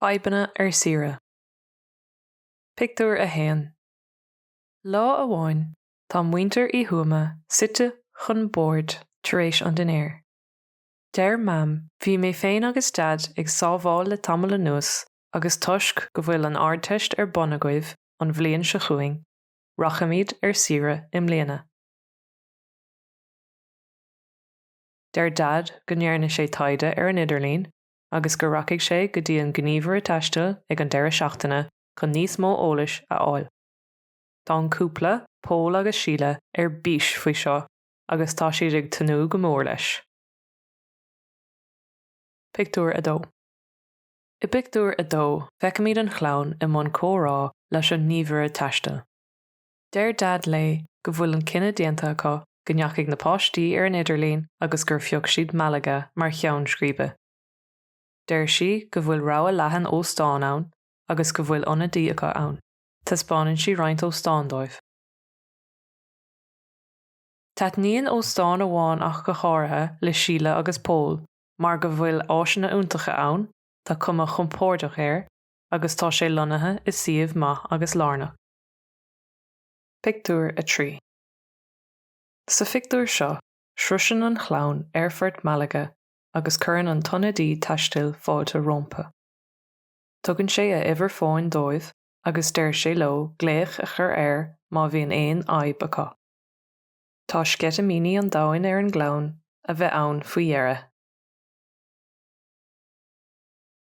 Fadhbanna ar saoire. Pictiúr 1 Lá amháin tá muintir Uí Thuama suite chun boird tar éis an dinnéir. Deir Mam 'Bhí mé féin agus Daid ag sábháil le tamall anuas agus toisc go bhfuil an Ardteist ar bun agaibh an bhliain seo chugainn, rachaimid ar saoire i mbliana. Deir Daid go ndearna sé taighde ar an idirlíon agus go rachaidh sé go dtí an gníomhaire taistil ag an deireadh seachtaine chun níos mó eolais a fháil. Tá an cúpla, Pól agus Síle, ar bís faoi seo agus tá siad ag tnúth go mór leis. Pictiúr 2 I bpictiúr a dó, feicimid an chlann i mbun comhrá leis an ngníomhaire taistil. Deir Daid léi go bhfuil an cinneadh déanta acu go ndeachaigh na páistí ar an idirlíon agus gur phioc siad Malaga mar cheann scríbe. Deir sí go bhfuil rogha leathan óstán ann agus go bhfuil ionadaí acu ann. Taispeánann sí roinnt óstán dóibh. Taitníonn óstán amháin ach go háirithe le Síle agus Pól mar go bhfuil áiseanna iontacha ann, tá cuma chompórdach air agus tá sé lonnaithe i suíomh maith agus lárnach. Pictiúr 3 Sa phictiúr seo, sroiseann an chlann aerfort Malaga agus cuireann an t-ionadaí taistil fáilte rompu. Tugann sé a uimhir fóin dóibh agus deir sé leo glaoch a chur air má bhíonn aon fhadhb acu. Tá sceitimíní an domhain ar an gclann a bheith ann faoi dheireadh.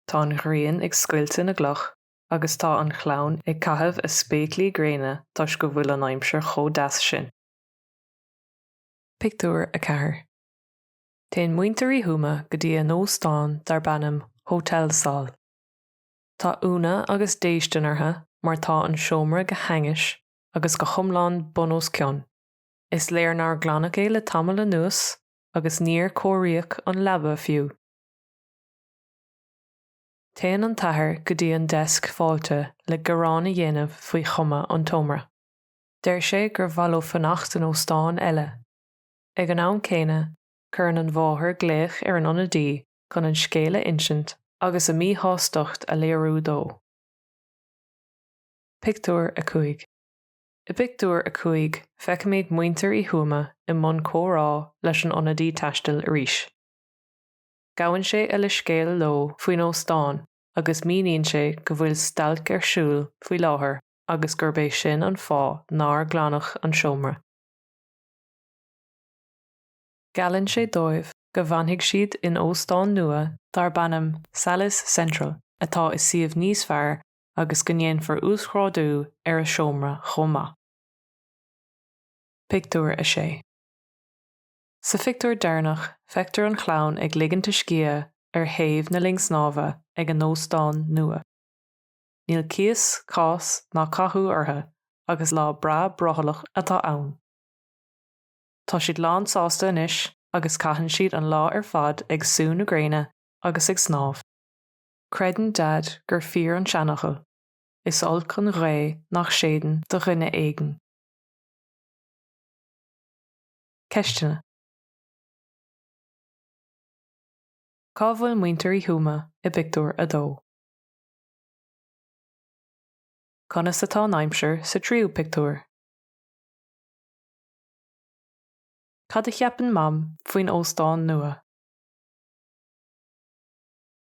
Tá an ghrian ag scoilteadh na gcloch agus tá an chlann ag caitheamh a spéaclaí gréine toisc go bhfuil an aimsir chomh deas sin. Pictiúr 4 Téann muintir Uí Thuama go dtí a n-óstán darb ainm Hotel Sol. Tá ionadh agus déistin orthu mar tá an seomra go hainnis agus go hiomlán bun os cionn. Is léir nár glanadh é le tamall anuas agus níor cóiríodh an leaba fiú. Téann an t-athair go dtí an deasc fáilte le gearán a dhéanamh faoi chuma an tseomra. Deir sé gur mhaith leo fanacht in óstán eile. Ag an am céanna, cuireann an mháthair glaoch ar an ionadaí chun an scéal a insint agus a míshástacht a léiriú dó. Pictiúr 5 I bpictiúr a cúig feicimid muintir Uí Thuama i mbun comhrá leis an ionadaí taistil arís. Gabhann sé a leithscéal leo faoin óstán agus míníonn sé go bhfuil stailc ar siúl faoi láthair agus gurb é sin an fáth nár glanadh an seomra. Geallann sé dóibh go bhfanfaidh siad in óstán nua darb ainm Salles Central atá i suíomh níos fearr agus go ndéanfar uasghrádú ar a seomra chomh maith. Pictiúr 6 Sa phictiúr deireanach feictear an chlann ag ligint a scíth ar thaobh na linne snámha ag a n-óstán nua. Níl cíos, cás ná cathú orthu agus lá breá brothallach atá ann. Tá siad lán sásta anois agus caitheann siad an lá ar fad ag sú na gréine agus ag snámh. Creideann Daid gur fíor an seanfhocal, Is olc an ghaoth nach séideann do dhuine éigin. Ceisteanna. Cá bhfuil muintir Uí Thuama i bpictiúr a dó? Conas atá an aimsir sa tríú pictiúr? Cad a cheapann Mam faoin óstán nua?